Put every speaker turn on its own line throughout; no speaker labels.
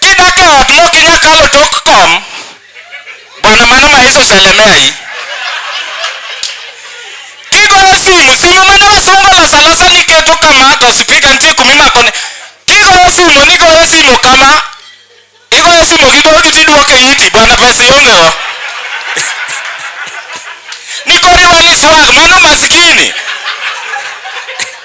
Kidak e ot maok inyal kalo tok kom, bwana mano ma Yesu oselemeyi. Kigoyo simu, simu mane wasungu oloso alosa ni iketo kama to sipika nitie kuma imakone. Kigoyo simu nigoyo simu kama, igoyo simu gi dhoudi tiduoko e iti, bwana pesa ionge go. Nikoriwa ni swal, mano maskini.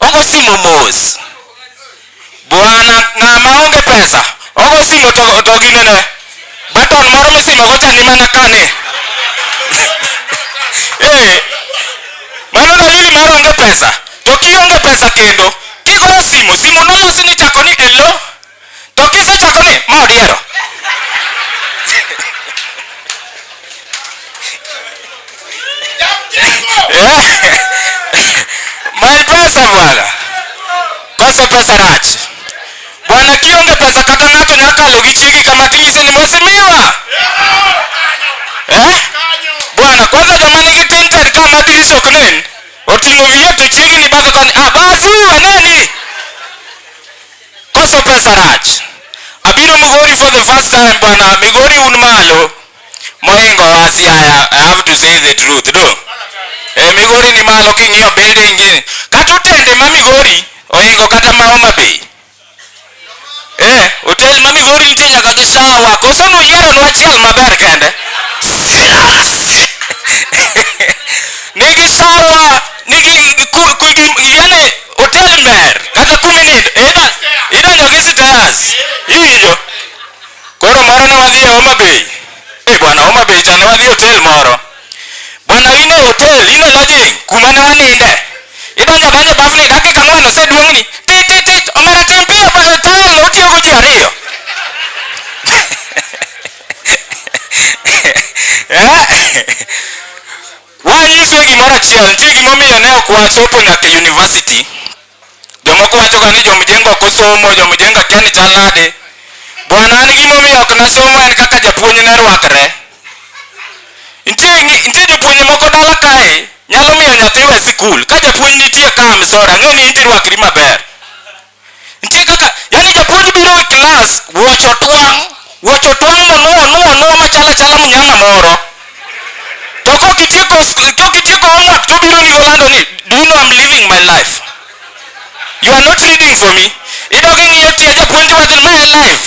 ogo simu mos bwana ng'a maonge pesa ogo simu to, to ginene baton moro mosimo gocha ni mana kane eh, mano dalili mar onge pesa to kionge pesa kendo kigoyo simu simu nolosi ni chako ni elo to kisechodo ni modiero my brother bwana kosa kosa rach bwana kionge pesa kata ng'ato nya kalo gi chiegi kama tinyise ni mosimiwa eh? bwana kwanza joma nigi tinted ka ma dirisa ok nen oting'o wiye to chiegi ni basa koni ah basi uwe neni Koso pesa rach? Abiro Migori for the first time bwana. Migori un malo moingowa Siaya. I have to say the truth do. E, Migori ni malo king'iyo building gini. Kata otende ma Migori oingo kata ma Homa Bay. Eh, hotel ma Migori nitie nyaka gi shawa. Koso nuyiero nwa achiel maber kende. Nigi shawa, nigi ku- ku- gi- yale otel mer kata kuma nindo ida idonjo gi stairs iwinjo koro moro ne wadhi e Homa Bay e bwana Homa Bay cha ne wadhi otel moro bwana ine otel ine lodging kuma ne waninde idonjo adonja bas ni dakika ang'wen oseduong'ni tik tik tik omera ting piyo bwana tayari otiyo go ji ariyo Eh? Wanyise gimoro achiel, nitie gimomiyo ne ok wachopo nyaka e university. Jomoko wachoga ni jomjengo ok osomo, jomjengo akia ni chal nade. Bwana an gimomiyo ok nasomo en kaka japuonj ne rwakre. Nitie ngi- nitie jopuonje moko dala kae nyalo miyo nyathi we sikul. Ka japuonj nitie ka, I'm sorry, ang'eyo ni in tirwakri maber. nitie kaka yani jopod biro e klas wuoche otwang' wuoche otwang' monuo nuo nuo machalo achala mnyama moro to kok itieko kok itieko homework to obiro iri olando ni do you know I'm living my life you are not reading for me idog ing'iyo tie japuonj wadhi ma en live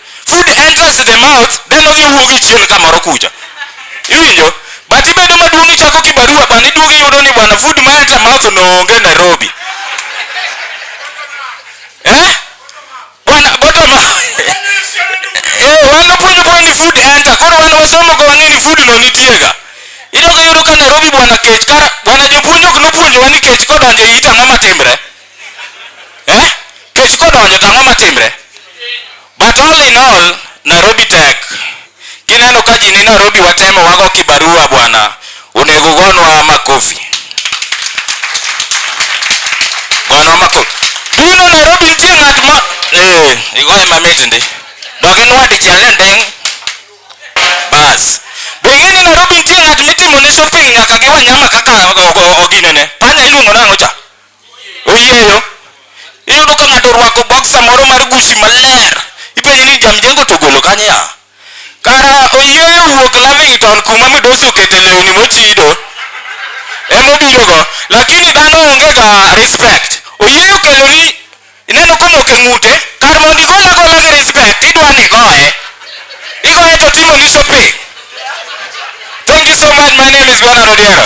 Food enters the mouth, then odhi owuog e chieng' kamoro kucha. Iwinjo? But ibedo maduong' ichako kibarua bana iduogo iyudo ni bwana food ma enter mouth no onge Nairobi. Eh? Bwana bottom Yo, wan wapuonjo koro ni food enter. Koro wan wasomo go wang'e ni food no nitiega. Idogo iyudo ka Nairobi bwana kech kara bwana jopuonj ok nopuonjowa ni kech kodonjo e it ang'o matimre. eh? kech kodonjo to ang'o matimre but all in all nairobi tek kineno ka ji ni nairobi watemo wago kibarua bwana onego gonwa makofi gonwa makofi duno nairobi nitie ng'at ma eh, igoye mamit ndi doginwa dichiel e nding' bas be ing'e ni nairobi nitie ng'at mitimo ne shopping nyaka gi wanyama kaka oginene panya iluongo nang'o cha oyieyo. Iyudo ka ng'ato orwako boksa moro mar gusi maler, ipenje ni jamjengo to ogolo kanye a? Kara oyieyo wuok Lavington kuma midosi okete lewni mochido emobirogo lakini dhano onge ga respect. Oyieyo okeloni Ineno komoko ng'ute, kar mondo igol agola gi respect, idwa ni igoye. Igoye to otimo ni shopping. Thank you so much. My name is Bernard Odiero.